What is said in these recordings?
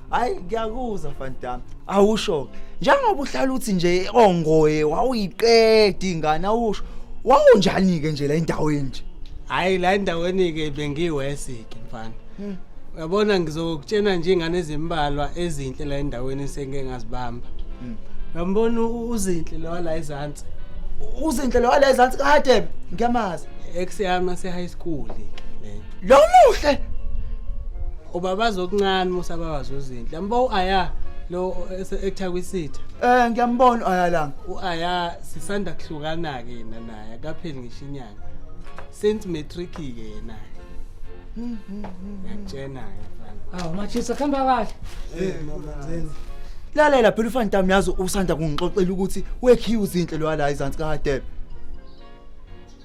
hayi ngiyakuzwa fantami awusho njengoba uhlala uthi nje ongoye wawuyiqeda ingane awusho wawunjani-ke nje la endaweni nje hayi la endaweni-ke bengiwesike mfana hmm. uyabona ngizokutshena nje ingane ezimbalwa ezinhle la endaweni esengike ngazibamba hmm. uyambona uzinhle lowa la ezansi uzinhle lowa la ezansi kadebe ngiyamazi ex yami ase-high school-ke Lo muhle. Ubabaza okuncane musa babaza uzinhle. Yambo uAya lo ektha kwisitha. Eh ngiyambona uAya la. UAya sisanda kuhlukana ke yena naye akapheli ngisho inyanga. Since matric ke yena. Hmm, hmm, hmm, Ngiyakutshena ke mfana. Awu machisa khamba kahle. Eh mama zeni. lalela phela ufantam yazi usanda kungixoxela ukuthi wekhiwe uzinhle lo wala izansi kahadebe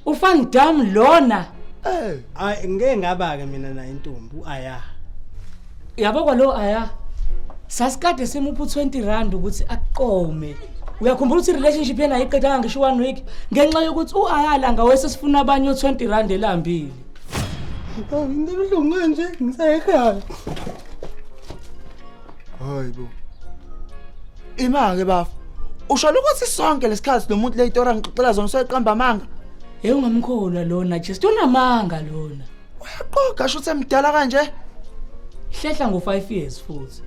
Ufan dam lona. Eh, ay ngeke ngaba ke mina nayo intombi uaya. Yabo kwalo aya. Sasikade simupha u20 rand ukuthi aqome. Uyakhumbula ukuthi relationship yena ayiqedanga ngisho one week ngenxa yokuthi uayala ngawese sifuna abanye u20 rand elambile. Into ebuhlungu kanje ngisekhaya. Hayi bo. Ima ke bafo. Usho ukuthi sonke lesikhathi nomuntu leyitora ngixoxela zona soyiqamba amanga. Hey ungamkholwa lona just unamanga lona. Uyaqoga sho semdala kanje. Hlehla ngo 5 years futhi.